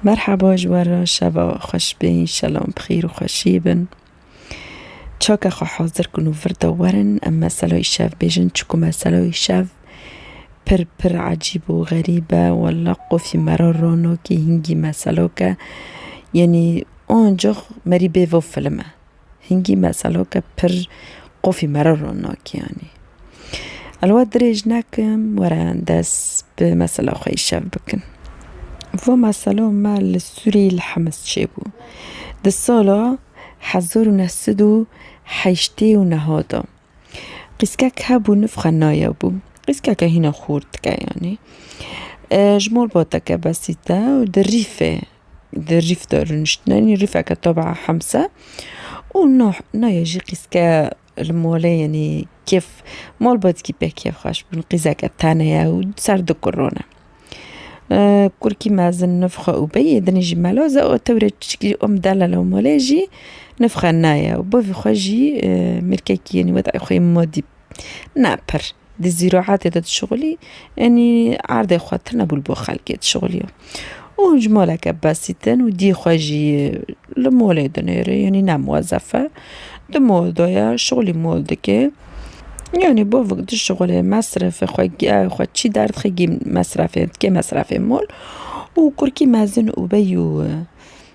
Merhaba ji we re şeva we xweş be înşelom bi xêr û xweşiyê bin. Çaka xwe hazir kin û vir de werin em mesela îşev bêjin çiku mesela îşev pir pir ecîb û xerîb e walla qufî me re ronokî hingî meselok e yenî oncux merî bêvo film e. Hingî meseloke pir qofî me re ron nakî yanî. El we dirêj nekim were dest bi mesela xwe îşev bikin. Vê meselo me li Sûriyê li Hemes çêbû. Di sala hezar û neh sed û heştê û neha de. Qîskek hebû nifxe nayabû. Qîskeke hîna xurt dike yanî. Ji malbateke besîte û di rîfê. Di rîf de rûniştinenî rîfeke tobaa hemse û no noyê jî qîzke li molê yenî kêf malbatîkî pê kêf xweş bûn qîzeke tane ye û ser du kur rûne. Kurikî mezin nif xwe û beyê dinê jî meloz e û tewrê çikî û mdele li molê jî nif xwe naye û bavê xwe jî mêrkekî yenî weda xwe yê modî. Na pir di zîroatê de dişixulî enî erdê xwe tune bûl bo xelkê dişixulîyo û ji maleke besîtin û dî xwe jî li molê dinêre yanî ne muwezef e di mol de ye şixulî mol dike yanî bo vik dişixulê mesrifê xwe giyayê xwe çî derdixê gîn mesrefê dike mesrefê mol û kurikî mezin û beyû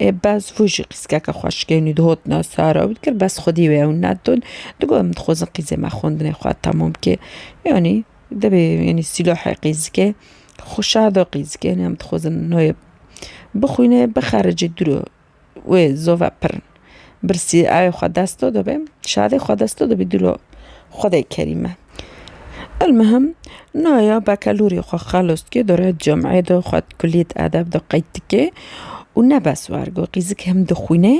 Bes vû jî qîskeke xwe şikên û dihotina sar ew dikir bes xwedî wê ew nedin. Digot em dixwazin qîzê me xwendinê xwe temam bike. Yanî dibê yanî sîlohê qîzikê xwe şado qîzikê yanî em dixwazin nûyê bixwîne bixericî dûro wê zove pirin. Birsî ayê xwe dest to dibe, şadê xwe dest to dibe dilo Xwedê kerîme. Elmihim naya bekelûrê xwe xelost ki dore cem'ê de xwe di kulîyet edeb de qeyd dike û ne bes wergo qîzik him dixwîne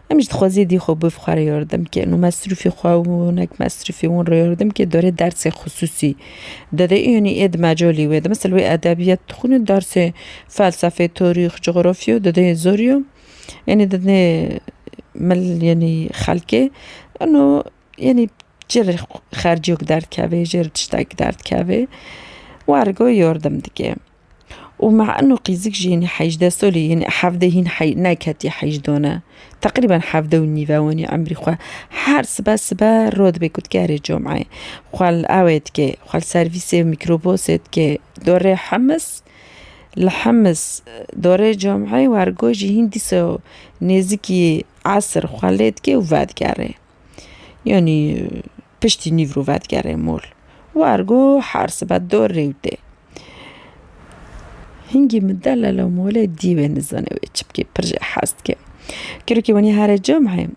him jî dixweze dî xwe biv xwe re yardim ke no mesrûfê xwe û nek mesrûfê wan re yardim ke dore dersê xisûsî dide yanî ê di mecalî wê de misal wê edebiyat dixwîne dersê felsefê, tarîx, cografya dide zor yo. Yanî di nê mil yanî xelkê ino yanî ji re xerciyok derdikeve ji re tiştek derdikeve wergo yardim dike û me ino qîzik jî yanî hejdeh solî yanî hevdeh hîn neketiye heyjdan e teqrîben hevdeh û nîv e wanî emrî xwe her sibe sibe rû dibe ku dikerê comeyê xwe li ewê dike xwe li servîsê mîkrobosê dike dorê hemis Li Hims dorê camî wergo jî hîn dîsa nêzîkî esr xwe lê dike û vedigerê. Yanî piştî nîvro vedigerê mol. Wergo her sibe dor rewtê. Hingî min delala molê dî wê nizane wê çi bikê pirr jê hez dike. Kêrokê wenî here camî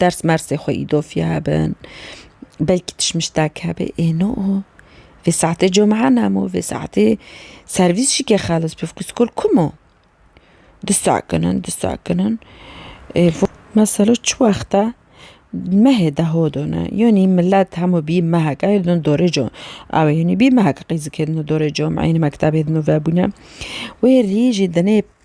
Ders mersê xwe îdofî hebin, belkî tişmiştek hebê. Ê no o. Vê saetê cumea nemo, vê saetê servîs jî ke xelis bi ku skol kum o. Disekinin, disekinin. Mesela çi wexte mehê de hodine. Yanî milet hemû bî mehek ew ê din dorê ew ê yanî bî mehek qîzikê din dorê cumeeyê mektebê din û vebûne. Wê rî jî dinê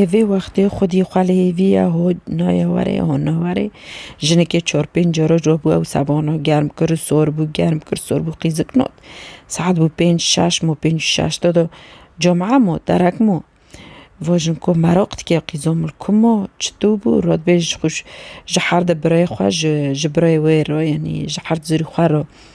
Ê vê wextê xwedî xwe li hêvî ye, ho naye were, ho nawarê. Jinikê çar pênc cara cû bû ew sebana germ kir, sor bû, germ kir, sor bû qîzik not. Saet bû pênc şeş mo pênc û şeş de do camiye mo derek mo. Va jin ku meraq dike qîza min li ku ma çitû bû radbêj xwe ji herdi birayê xwe ji birayê wê re yanî ji herd zirî xwe re.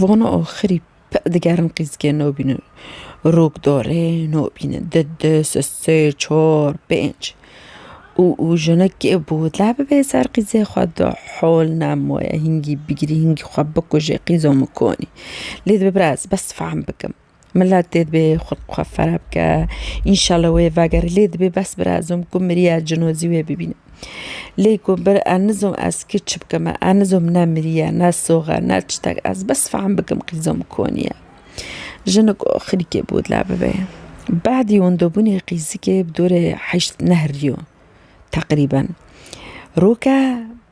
Vana axirî peh digerin qîzgê nabînin. Rok darê nabînin. Di di sê çar pênc û û jinekê botla bibê ser qîzê xwe de hol nemaye hingî bigirî hingî xwe bikujê qîza min konî. Lê dibe biraz bes fehm bikim. Milet dê dibê xwe li xwe fera bike. Înşallah wê vegerê lê dibê bes bira ez zom ku miriye cinozî wê bibînim. Lê ku bir ez nizom ez kê çi bikim e, ez nizom ne miriye ne sox e ne çitek ez bes fehm bikim qî zom konî ye. Jinik û xirîkê bi wila bibê. Bahdî windobûnê qî zikê bi dorê heşt nehrîyo teqrîben. Roke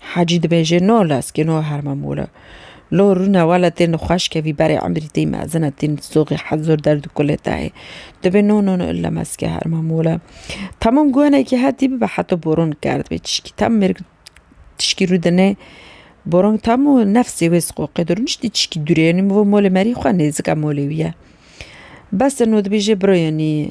Hacî dibêje no lez ki no herma mor e. Lo rûne wele tên xweş kevî berê emrî tî mezin e tîn soxî hed zor derd û kulê tehê. Dibê no no no ille mez ki herma mor e. Tamam guhenekî hetî bibe heto boron kerdibê tişkî tam mêrg tişkî rû dinê boron tam û nefsê wê siqoqê dir niştî tişkî dûrê yanî mivo molê merî xwe nêzik e molê wî ye. Bes e no dibêje biro yanî.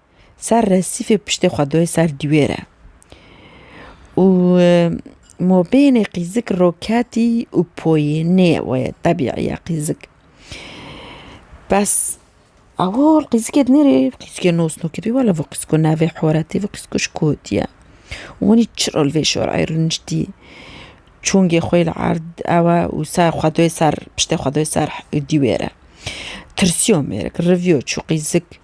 Ser resîfê piştê xwe doyê ser dîwê re. Û mobênê qîzik roketî û poyê nê we tebîî ye qîzik. Bes ewil qîzikê di nêrê qîzikê nosnokê dibî wela vê qîziko navê horetê vê qîziko ji ku hatî ye. Wanî çi rol vê şorayê rûniştî çûngê xwe li erd ewe û ser xwe doyê ser piştê xwe doyê ser dîwê re. Tirsîyo mêrik riviyo çû qîzik.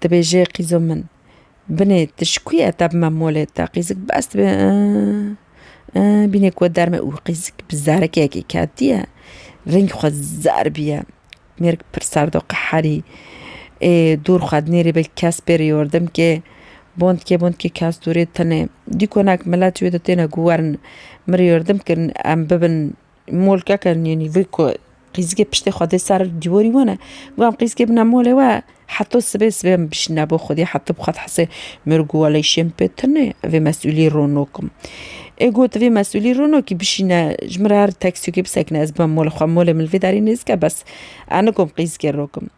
dibêje qîzo min binê tu ji ku ye te bi me molê te qîzik bes dibe bîne ku we derme û qîzik bi zerekekê ketiye rengî xwe zer bûye mêrik pir serd û qeherî ê dûr xwe nêrê belkî kes pê re yordim kê bontike bontike kes dûrê tune dî konak milet ji wê de têne ku werin min rê yordim kirin em bibin Molkeke nînî vê ku qîzikê piştê xwe dê ser dîwarî wan e. Guham qîzikê bina molê we heta sibê sibê em bişîne bo xwedî heta bi xwe dihesê mir û guwaleyê şên pê tune vê mesûlî ronok im. Ê got vê mesûlî ronokî bişîne ji min re her teksîyokê bisekine ez bima mola xwe molê min li vê derê nêzike bes ez nikom qîzikê rokim.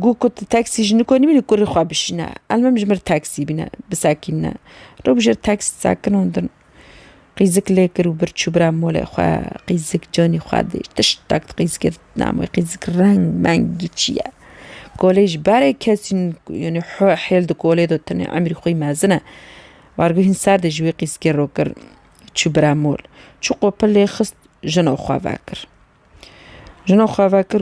Got ku tu teksî ji niko nimînî kurê xwe bişîne elmim ji min re teksî bîne bisekîne. Rewşa tekst sekinandin. Qîzik lê kir û bir çû bira molê xwe. Qîzik canî xwe dî. Tiştek di qîzikê di dinam wê qîzik reng meng giçî ye. Kolê ji berê kesî yanî hêl di kolê de tenê emrî xwî mezin e. Barguhîn ser de ji wî qîzikê ro kir çû bira mol. Çû qopil lê xist jino xwe vekir. Jino xwe vekir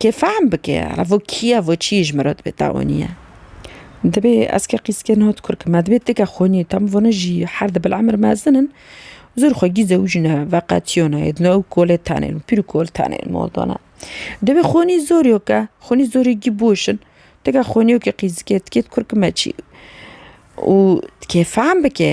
Kê fehm bike revo kîya vo çîyê ji min re dibe tawanî ye. Dibê ez ke qîzke niha dikur ke me dibê tike xwenî tam vana jî her di bil emir mezin in zor xwe gîz ew jî ne veqetîyona yê dino ew kolê tenê pîr û kol tenê li mal dana. Dibê xwenî zor yo ke xwenî zorê gî boş in tike xwenî yo ke qîzike tikê dikur ke me çî û tikê fehm bike.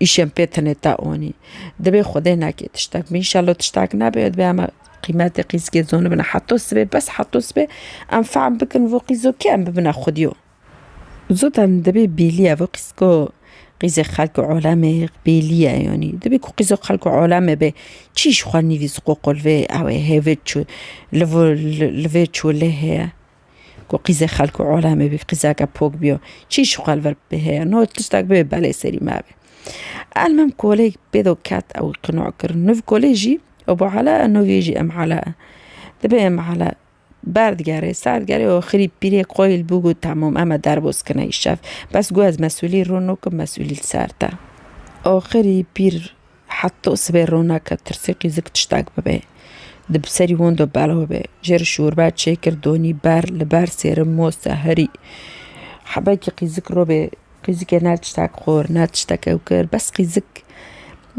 Îşên pê tenê te anî. Divê xwedê nekê tiştek bi. Înşallah tiştek nebe ew divê em qîmetê qîzkê zonibin heta sibê bes heta sibê em fehm bikin vû qîzo kê em bibine xwedîyo. Zotan divê bêliya vû qîzko qîzê xelk û alemê bêliya yanî. Divê ku qîzo xelk û alemê bê çî ji xwe nivîs qoqol vê ew ê hêvê çû li vê çû lê heye. Ku qîzê xelk û olamê bî, qîzeke pok bî yo, çî ji xwe li vir bibê heye. No tiştek bibê belê serî me be. Elmim kolê pê do ket ew wî qinoa kir. Nuv kolê jî ebo ala e, nuvê jî em ala e. Dibe em ala ber digerê, ser digerê û xirî pîrê xweyî li bo got temam eme derbos kine îşev. Bes got ez mesûlî rûn nakim mesûlî li ser te. Axirî pîr. Heta sibê roneke tirsê qîzik tiştek bibe. Di bi serî wan de belav be. Jêr şorbe çêkir donî ber li ber sêrin moste herî. Hebekî qîzik robê qîzikê ne tiştek xwir ne tiştek ew kir bes qîzik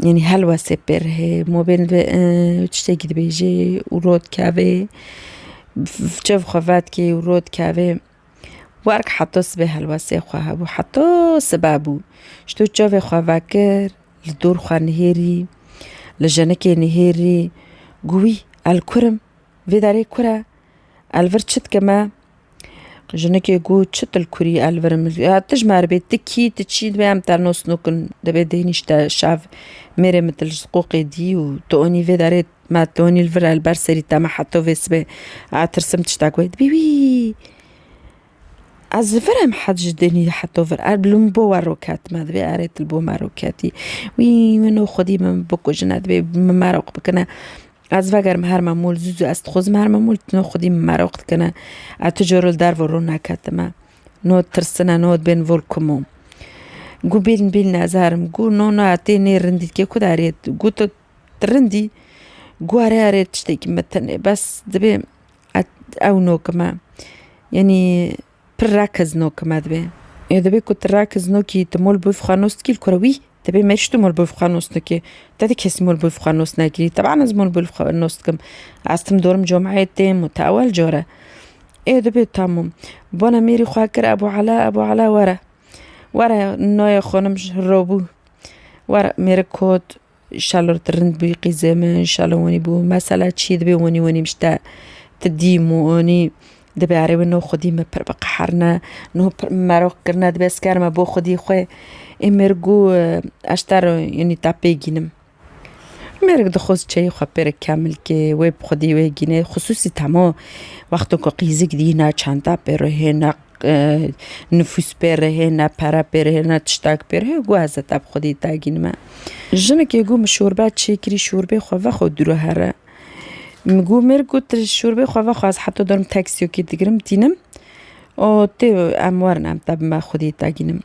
yanî helwestê pêr hê mobên ve tiştekî dibêjê û rot kevê çev xwe vetkê û rot kevê. Werk heto sibê helwestê xwe hebû, heto sibe bû. Ji to çavê xwe vekir, li dor xwe nihêrî, li jenikê nihêrî, got wî el kur im, vê derê kur e, el vir çi dike me? Jinikê got çi tu li kurî el vir im, tu ji me re bê, tu kî, tu çi, divê em te nos nukin, divê tu hênî ji te şev mêrê min tu li qoqê dî û tu onî vê derê Me tonî li vir li ber serî te me heto vê sibê a tirsim tiştek wê dibî wî ez li vir em het ji dinî heto vir er li min bo we roket me divê erê tu li bo me roketî wî min û xwedî min bikujine divê min meraq bikine ez vegerim her memûl zû zû ez dixwazim her memûl no xwedî min meraq dikine ez tu cor li derve rû neketime no tirsine no dibên vir kum o gû bîln bîln ez herim gû no no tê nê rindî dikê ku derê gû tu Rindî guare erê tiştekî me tenê bes dibê ew nokime yenî pir rekiz nokime dibê. Ê dibê ku tu rekiz nokî tu mol bif xwe nos dikî li ku re wî dibê me jî tu mol bif xwe nos nikî. Te di kesî mol bif xwe nos nekî teban ez mol bif xwe nos dikim ez tim dorim comeyê têm û te ewel car e. Ê dibê tamûm bona mêrî xwe kir ebû ala ebû ala were were nayê xwe nimj robû were mêrik kot. Şalor tu rind bûyî qîzê min, şalo wenî bû mesela çî dibê wenî wenî mişte tu dîm û onî dibê erê wê no xwedî me pir biqeherine no pir min meroq kirine dibê ez kerime bo xwedî xwe ê mêrgû ez ji te re yenî te pê gînim. Mêrik dixwaz çeyê xwe pê re kemil kê wê bi xwedî wê gînê xisûsî temo wexto ku qîzik dîne çanda pê re hêne Nifûs pê re heye, ne pere pê re heye, ne tiştak pê re heye, got ez ê te bi xwedî dagîn me. Jinekê got min şorbe çê kirî şorbê xwe vexwe dû re here. Min got mêr got şorbê xwe vexwe ez heta dor min teksîyokê digirim tînim û tê em werin em te bi me xwedî dagînim.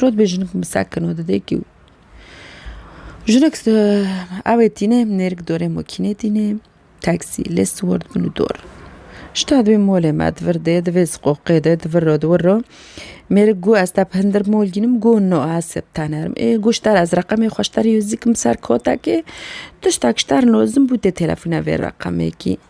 Rod bê jinik misekin û didê kîw. Jinik ewê tîne nêrîk dorê mokînê tîne teksî lê siwar dibin û dor. Ji te divê molê me di vir dê di vê siqoqê de di vir ro di wir ro mêrik got ez te bi hindir mol gînim got no ez sê bi te nerim. Ê got ji te re ez reqemê xwe ji te re yê zî dikim ser kotekê tiştek ji te re lozim bû dê telefone vê reqemekî.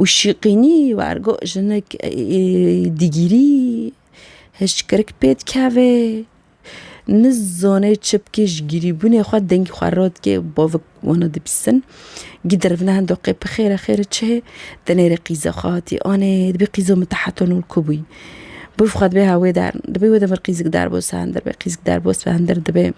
Û şîqînî wergo jinik digîrî hişkirik pê dikeve nizane çi bikê ji gîrîbûnê xwe dengî xwe radikê bavik wana dibîsin gîdirvne hendo qê bixêre xêre çi hê di nêrê qîze xwe hatî anê dibê qîzo min teheto nû li ku bûyî bû xwe dibê hewê der dibê wê demir qîzik derbo se hindir bê qîzik derbo se hindir dibê.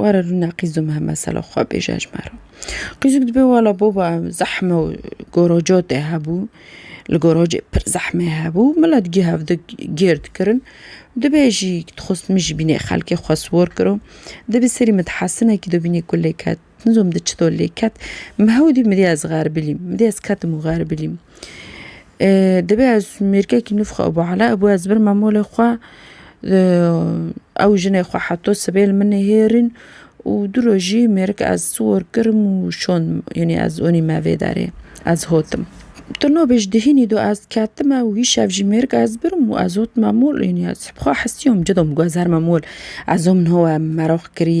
Were rûne qîzû Mihemed selo xwe bêje ji me re. Qîzûk dibê wela boba em zehme û goroco tê hebû. Li gorocê pir zehmê hebû milet gih ev di gêr dikirin. Dibê jî dixwest min jî bînê xelkê xwe siwar kiro. Di bi serî min di hesinekî do bînê ku lê ket. Nizanim di çi do lê ket. Min hewdî min dîya ez xerbilîm. Min dîya ez ketim û xerbilîm. Divê ez mêrgekî nû bixwe bi Ala bû ez birima malê xwe ew jinê xwe heto sibê li min nêhêrîn û du rojî mêrik ez siwar kirim û şand min yanî ez anî me vê derê ez hatim. Tu nabêj di hînî de ez ketime û îşev jî mêrik ez birim û ez hatime mol yanî ez bi xwe hesiyam cida min got ez herime mol ez wan min hewa meraq kirî.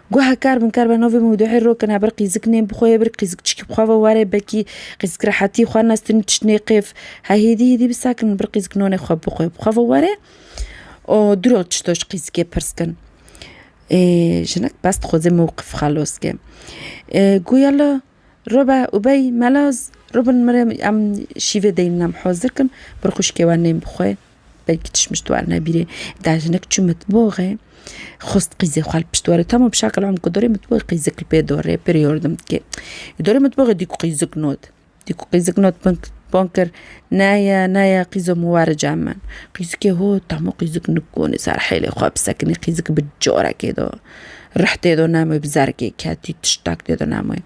Guha kar bin kar be navê mewduhê rokine ber qîziknên bi xwe yê bir qîzikçikî bi xwe ve were belkî qîzik rehetî xwe nestin tişt nêqêf he hêdî hêdî bi sakin bir qîzik nonê xwe bi xwe bi xwe ve were û diro tişto ji qîzikê pirs kin. Jinik bes dixwaze mewqif xelos ke. Guya li Robe Ubey Melaz rûbin mirê em şîvê deynin em hazir kin bir xwişkê we nên bi xwe. belkî tişt mişt war nebîrê da jinik çû mitboxê xwest qîzê xwe li pişt warê tamam şakil em ku dorê mitboxê qîzik li pê dorê pir yordim dike dorê mitboxê dîku qîzik not dîku qîzik not bin bon kir naya naya qîzo min were ca min qîzikê hot hemû qîzik nikoni ser hêlê xwe bi sekinî qîzik bi corekê do rihtê do name bi zergê ketî tiştak tê do name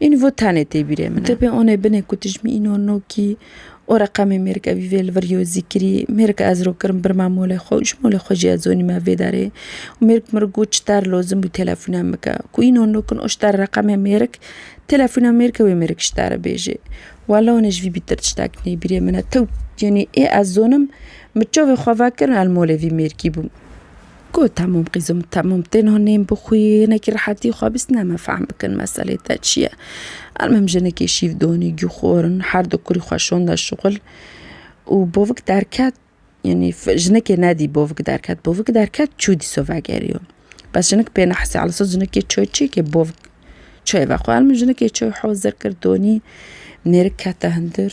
Învo tenê tê bîrê min e. Dibê onê binê ku dijmî îno nokî û reqemê mêrike vî vê li vir yo zîkirî. Mêrike ez ro kirim birma molê xwe û ji molê xwe jî ez zonîme vê derê. Û mêrike min got ji der lozim bû telefûne min bike. Ku îno nokin û ji der reqemê mêrik telefûne mêrike wê mêrik ji derê bêjê. Walla onê ji vî bîtir tiştek nê bîrê min e. Tew yanî ê ez zonim min çavê xwe vekirin ez li molê vî mêrikî bûm. Ku temûm qîzo min temûm têna nêm bi xwî hinekî rehetî xwe bîst ne me fehm bikin meselê te çi ye. Her mim jinekê şîv donî gû xor in her du kurî xwe şonda şixul û bovik derket yanî jinekê nedî bovik derket bovik derket çû dîso vegeriyo. Bes jinik pê nehsê ala sot jinekê çi çi ke bovik çi ve xwe min jinekê çi hozir kir donî nêrik kete hindir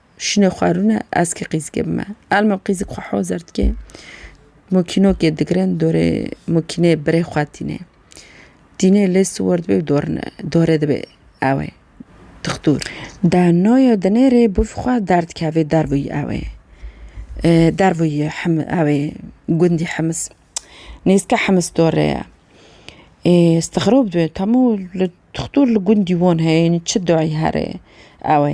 Şinê xwe rûne eskê qîzikê bime. Elma qîzik xwe hozer dike. Mokînokê digirin dorê mokînê birê xwe tîne. Tîne lê siwar dibe û dorine dorê dibe ewe tixtûr. De noya dinêrê bûv xwe derdikeve dervûyî ewe dervûyî him ewe gundî himis. Nêzika himis dorê ye. Ê stixrob dibe temû li tixtûr li gundî wan heye yanî çi dayî here ewe.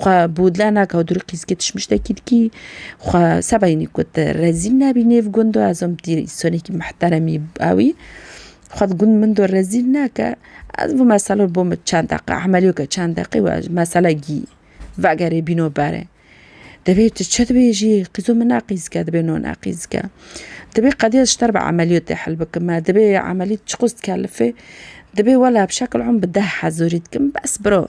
Xwe Bodler nake û durî qîzkê tişmiştekî dikî. Xwe sebaynî ku te rezîl nebî nêv gundo ez om tî sonekî mihteremî ewî. Xwe di gund min do rezîl nake ez vê mesele bo min çend deqe emelî ke çend deqe we mesele gî vegerê bîno berê. Divê tu çi dibêjî qîzo min ne qîzke dibê no ne qîzke. Divê qedîya ji te re bi emelîyotê hel bikime divê emelî çiqas dikelifê divê wela bi şekil om bi deh hezorî dikim bes biro.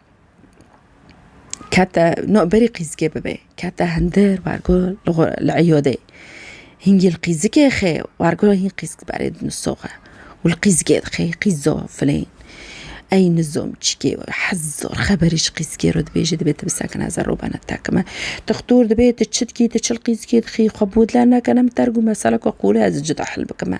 kete no berî qîzikê bibê kete hindir wergo li eyodê hîngî li qîzikê xê wergo hîn qîzik diberê di nisoxe û li qîzikê dixê qîzo filên ey nizom çikê hez zor xeberî ji qîzikê re dibêje dibê tu bisekine zer û bene tekime dixtor dibê tu çi dikî tu çi li qîzikê dixî xwe bi dil neke ne min ter gû mesele ku qûl e ez ê cida hil bikime.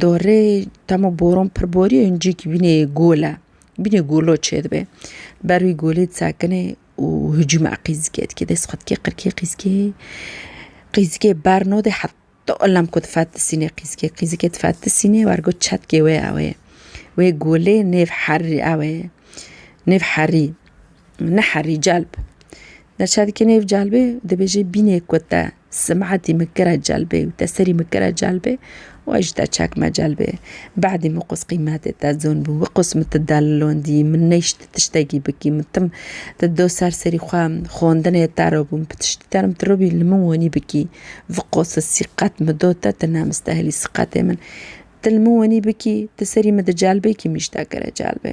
Dorê temo boron pir borî û ncîk bînê gole. Bînê golo çêdibe. Ber wî golê disekine û hicûme qîzikê dike. Dest xwe dike qirkê qîzikê. Qîzikê ber node heta elem ku difetisîne qîzikê. Qîzikê difetisîne wergo çetkê wê ew ê. Wê golê nêv herî ew ê. Nêv herî. Neherî celb. Der çavkê nêv celbê dibêjê bînê ku te simetî min kire celbê û te serî min kire celbê û ez ji te çekme celbê. Bedî min qûs qîmetê te zon bû, wê qûs min ti delilondî, min neyşt tiştekî bikî, min tim ti do ser serî xwe xwendinê te re bûm, bi tiştî terim ti robî li min wenî bikî, vi qûsi sîqet min do te, ti nemistehilî sîqetê min. Ti li min wenî bikî, ti serî min di celbê kî min ji te kire celbê.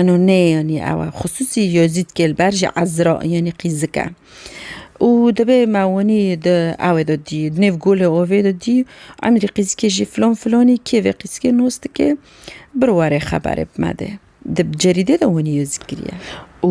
Eno nê yanî ew e. Xisûsî Yezîd Kêlber ji Ezra yanî qîzik e û divê me winî di ewê de dî di nêv golê ovê de dî emrî qîzikê jî filan filanî kê vê qîzikê nas dike bir were xeberê bi me de. Di cerîdê de winî Yezîd kiriye û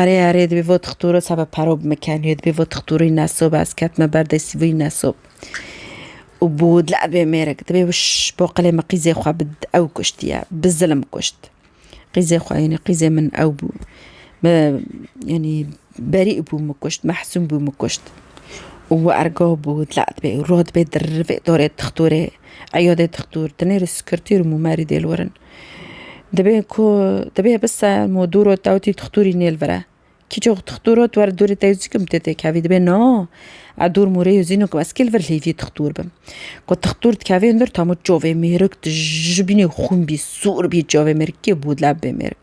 Erê erê dibî vo tixtûro sebe pero bimikenîyo dibî vo tixtûrî nesob ez ketime ber dê sivî nesob û bû dlebê mêrik dibê wiş bo qilê min qîzê xwe bi ew kuştiye bi zilim kuşt qîzê xwe yenî qîzê min ew bû me yenî berî bû min kuşt mehsûm bû min kuşt û wi ergo bû dile dibê rot bê dirrî vê dorê tixtûrê eyo dê tixtûr dinêrî sikirtîr û mûmerî dêl werin Dibê ku dibê bi serm û dûr ot ewtî tixtûrî nêl vire. Kîçok tixtûr ot wer dûrê te zî kim tê têkevî dibê no ew dûr mûrê yo zîno ku ez kî li vir hêvî tixtûr bim. Ku tixtûr dikevê li vir tamû çavê mêrik dijibînê xûn bî, sûr bî çavê mêrik kê bû leb bê mêrik.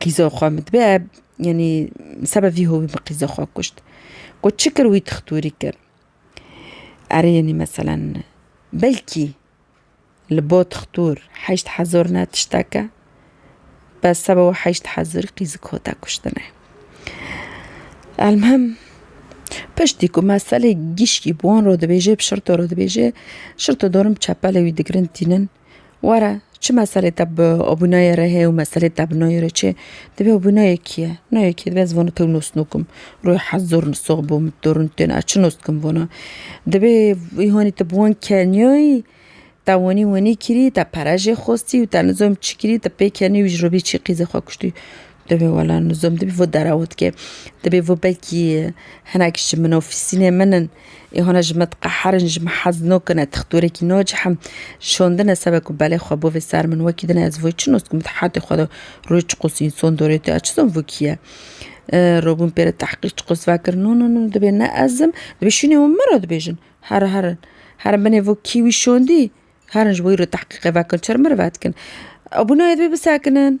Qîza xwe min dibe yanî seba vî hovî min qîza xwe kuşt. Got çi kir wî tixtûrî kir. Erê yanî meselen belkî li bo tixtûr heşt hezar ne tişteke bes seba wê heşt hezar qîzik hate kuştine. Elmuhim piştî ku me selê gişkî bi wan re dibêje bi şirto re dibêje, şirto dorim çepelê wî digirin tînin. Were çi meselê te bi abûnayê re heye û meselê te bi nayê re çi ye? Divê abûnayê kî ye? Nayê kî ye? Divê ez vana tew nas nakim. Rûyê hezd zor in sax bo min dor in têne ez çi nas dikim vana? Divê hanî tu bi wan keniyayî te wanî wanî kirî te pere jê xwestî û te nizanim çi kirî te pê keniyê wî ji ro bî çî qîzê xwe kuştî. Divê wela nizom dibî vî dera wî dike. Divê vî belkî hinek ji min ofîsînê min in ê hûna ji min diqeherin ji min hez nakine tixtorekî nacihin şandine sebe ku belê xwe bo vê ser min wekî dine ez vî çi naskim di hetê xwe de rûyê çi qasî însan dore tu ez çi zan vî kî ye rabûn pêre tehqîq çi qas vekir no no no divê ne ez im divê şûnê wan min re dibêjin here herin herin binê vî kî wî şandî herin ji bo wî re tehqîqê vekin çi re min re vedikin abû nayê divê bisekinin.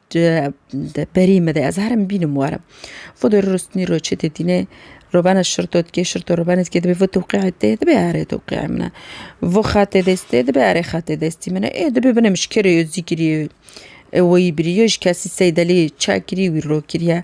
Di berî me de ez herim bînim warim. Xwedê rûristînî ro çê tê dînê ro bene şirto dikê şirto ro benê dikê dibê vê tewqîayê tê dibê erê tewqîayê min e. Vê xetê dest tê dibê erê xetê destî min e. Ê dibê binê min ji kê re yo zî kirî yo weyî birî yo ji kesî seydelê çek kirî wî ro kirî ye.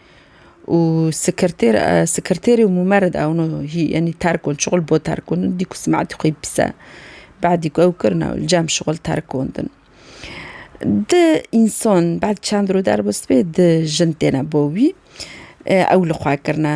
û sekretêr sekretêrê û mûmered ew no hî yanî terk on şixul bo terk on dî ku simeetî xwî bise beedî ku ew kirina ew li cem şixul terk on din. Di însan beed çend rû derbistbê di jin têne bo wî ew li xwe kirine.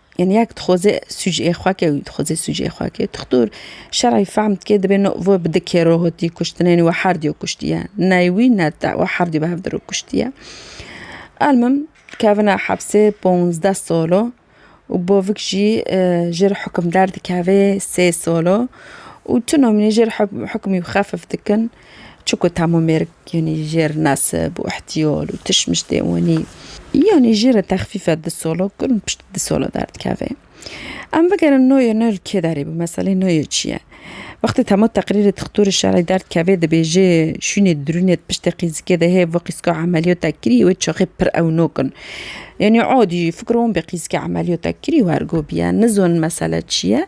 Yani ya dixwaze sucê xwe ke wî dixwaze sucê xwe ke dixtor şerî fehm dike dibê no vo bi di kêro hotî kuştine yanî we herdî yo kuştiye ney wî ne te we herdî bi hevdiro kuştiye. Elmim kevine hepsê ponzdeh solo û bavik jî ji re hukimder dikeve sê solo û tu nomînê ji re hukmî xefif dikin Çiku Tamo Mêrg yanî jêr nesib û îhtiyol û tişmiştê wanî yanî jêrê texfîfe di solo kurm piştî di solo derdikeve. Em bigerin noyê no li kê derê bû, meselê noyê çi ye? Wextê Tamo teqrîrê dixtorê şerî derdikeve dibêje şûnê dirûnê di piştê qîzikê de hê vê qîzika emeliyota kirî wê çaxê pir ew no kin. Yanî adî fikro wan bê qîzikê emeliyota kirî û ergo bîye. Nizonin mesele çi ye?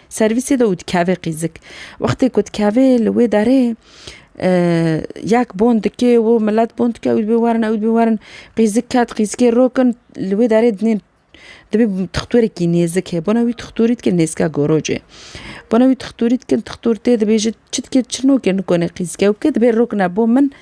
Servîsê de û dikeve qîzik. Wextê ku dikeve li wê derê yek bon dikê û milet bon dike ew dibê werin ew dibê werin qîzik ket qîzikê rokin li wê derê dinê dibê tixtûrekî nêzik heye bona wî tixtûrî dike nêzika gorocê. Bona wî tixtûrî dikin tixtûr tê dibêjin çi dikê çi nokê nikonê qîzike ew ke dibê rokine bo min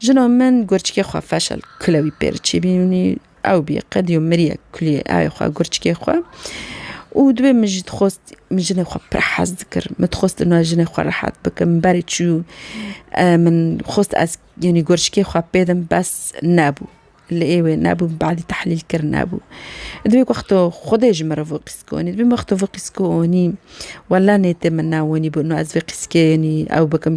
Jina min gurçikê xwe feşel kule wî pêr çîbînî ew bî qedî û mirî ye kulî ayê xwe gurçikê xwe û dibê min jî dixwest min jinê xwe pir hez dikir min dixwest li nal jinê xwe rehet bikim min berê çû min xwest ez yanî gurçikê xwe pêdim bes nebû li êwê nebû min badî tehlîl kir nebû divê wexto xwedê ji min re vê qîz konî divê wexto vê qîz konî wele nêtê min newonî bû ez vê qîzkê yanî ew bikim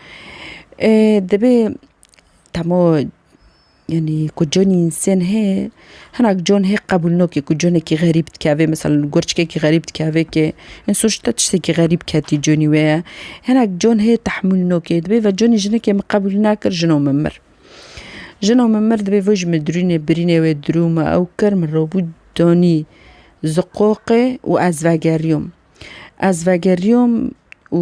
Divê temo yanî ku conê însen hê hinak con hê qebûl nake ku conekî xerîb dikeve misal gorçikekî xerîb dikeve kê in sûcda tiştekî xerîb ketî conî wê ye hinek con hê tahmûl nake divê ve conê jinekê min qebûl nakir jino min mir. Jino min mir divê voj min dirûnê birînê wê dirû me ew kir min robû danî zi qoqê û ez vegeriyom ez vegeriyom û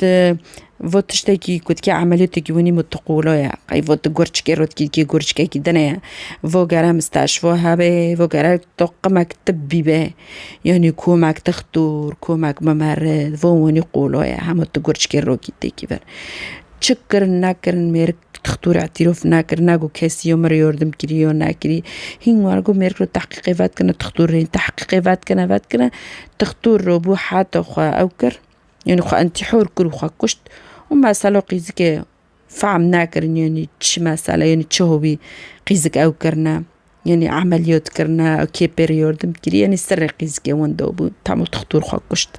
Di vo tiştekî ku dike emeliyotêkî winî min tu qolo ye. Qey vo tu gurçikê ro dikî dikî gurçikekî dine ye. Vo gere misteşvo hebê, vo gere to qimek tibbî be yanî komek dixtor, komek mimerit vo winî qolo ye. Hemû tu gurçikê ro kî têkî vir. Çi kirin nekirin mêrik dixtor îtîrof nekir, ne ku kesî yo min yordim kirî yo nekirî. Hîn were ku mêrik li tehqîqê vetkirine dixtor rê. Tehqîqê vetkirine vetkirine dixtor ro bû heta xwe ew kir. Yanî xwe intîhor kir û xwe kuşt û mesela qîzikê fehm nekirin yanî çi mesele yanî çi hobî qîzik ew kirine yanî emeliyot kirine kê pê re yardim kiriye yanî serê qîzikê wenda bû tam û tixtur xwe kuşt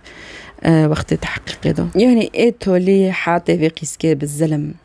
wextê teheqîqê da. Yanî ê tolî hate vê qîzikê bi zilim.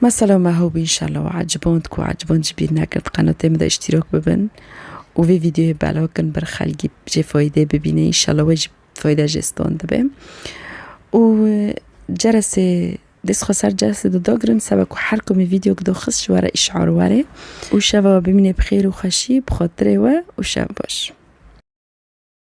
Mesela me hewb înşallah û eciband ku eciband jî bîr nekird qenotê min de îştîrak bibin û vê vîdeoyê belav kin ber xelkî jê fayîdê bibîne înşallah we jî fayîda jê standê be û ceresê dest xwe ser ceresê de dagirin seba ku her komê vîdeo gido xist ji were îşar were û şeva bimîne bi xêr û xweşî bi xatirê we û şev baş.